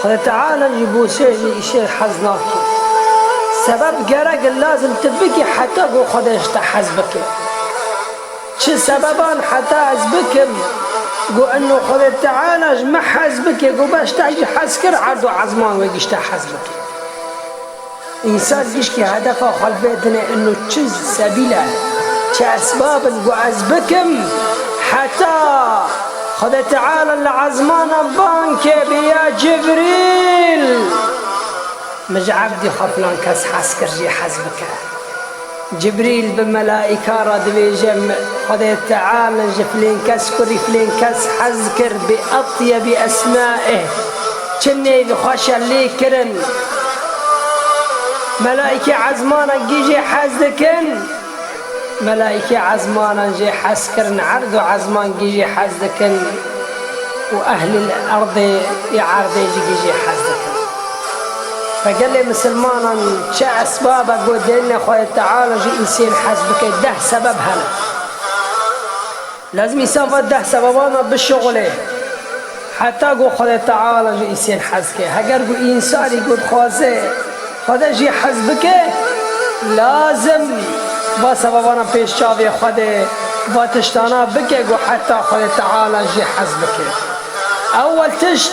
Xwedê Teala jî bo çêjnê îşê hez nake. Sebeb gerek e lazim tu bikî heta ku Xwedê ji te hez bike. Çi sebeban heta ez bikim ku eno Xwedê Teala ji min hez bike ku beş teh jî hez kir erd û ezman wê gişte hez bike. Însar gişkî hedefa xwe vê dine ino çi sebîl e, çi esbab in ku ez bikim heta Xwedê Teala li ezmanan bankê bê ya Cibrîl min ji evdî xwe filan kes hez kir jê hez bike. Cibrîl bi melaîka re dibêje, Xwedê Teal ji filên kes kurî filên kes hez kir bi etyebi esmaih, çi nêv xweş e lê kirin. Melaîkê ezmanan kî jê hez dikin? Melaîkê ezmanan jê hez kirin erd û ezman kî jê hez dikin û ehlîl erdê ê erdê jî kî jê hez dikin? Ka gelê misilmanan çi esbabek bo dênine Xwayê Teala ji Îsên hez bike deh sebeb hene. Lazim Îsa va deh sebebana bişuxulê heta ku Xwayê Teala ji Îsên hez ke. Heger ku însanî ku dixwaze Xwede jî hez bike lazim va sebebana pêş çavê Xwede va tiştana bike ku heta Xwayê Teala jî hez bike. Ewel tişt.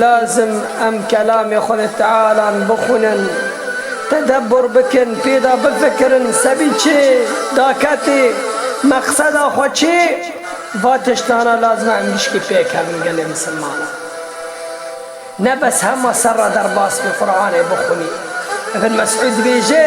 Lazim em kelamê xwe li Tealan bixwînin, tedebur bikin, pê de bifikirin, sebî çê daketê, meqseda xwe çê? Va tiştana lazim e em gişkî pêkevin gelê misilmanan. Ne bes hema serre derbas bî Quranê bixwînî. Ibn Mesûd dibêje.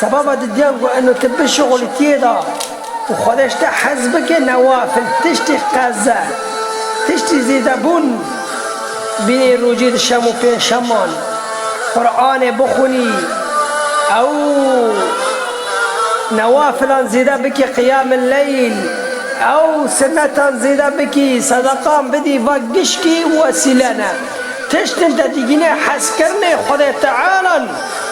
Sebaba didiyan ku eno ti bişuxulî tiyê de û Xwedê ji te hez bike newafil tiştî qez e. Tiştî zêdebûn bînî rojî di şem û pênçşeman Quranê bixwînî ew newafilan zêde bikî qiyamil leyl ew sinetan zêde bikî sedeqan bidî va gişkî û wesîle ne. Tiştên te digîne hezkirinê Xwedê Tealan.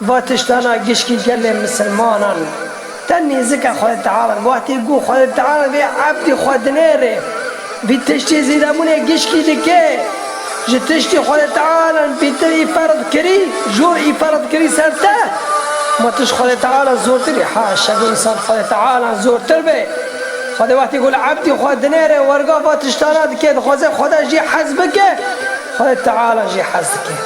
Va tişta na gişkî gelê misilmanan te nêzik e xwe diavin. Wextê ku xwe diavin vê ebdî xwe dinêrê. Vî tiştê zêdebûnê gişkî dike. Ji tiştî xwe diavin pîtir î ferd kirî, jor î ferd kirî ser te. Ma tişt xwe diavin zortir e. Haşa ku însan xwe diavin zortir be. Xwedê wextê ku li ebdî xwe dinêre werga va tişta na dike. Dixwaze xwede jî hez bike, xwe diavin jî hez dike.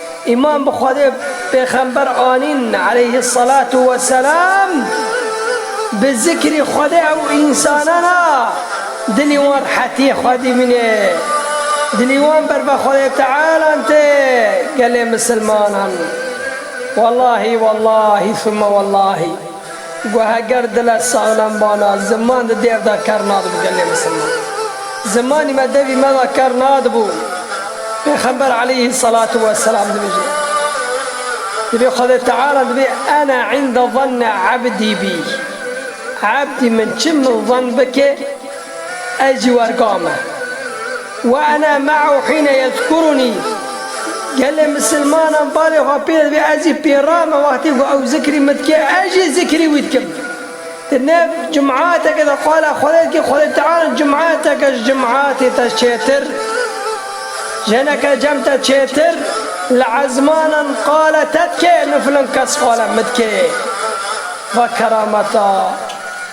Îman bi Xwedê û Pêxember anîn eleyhisselatu wesselam, bi zikrî Xwedê ew însanan a dilî wan rehetiyê xwe dîbînê, dilî wan berve Xwedê Tealan tê, gelê misilmanan. Wellahî wellahî thumma wellahî. Ku heger dil e saxlem bana, ziman di dêr de ker nadibû gelê misilman. Zimanî me devî me de ker nadibû. Pêxember aleyhî selatû we selam dibêje, Divê Xwedê Teala divê ene inde zanne ebdî bî, ebdî min çi min zann bike ez jî werga me. Wa ena ma'ahu hîne yezkurunî, Gelê misilmanan balê xwe pê dibê ez jî pê re me wextê ku ew zikrî min dike ez jî zikrî wî dikim. Di nav cum'ateke de qala Xwedê dike Xwedê Teala cum'ateke ji cum'atê te çêtir, jeneke cem te çêtir li ezmanan qala te dike min filan kes qala min dike. Va kerameta!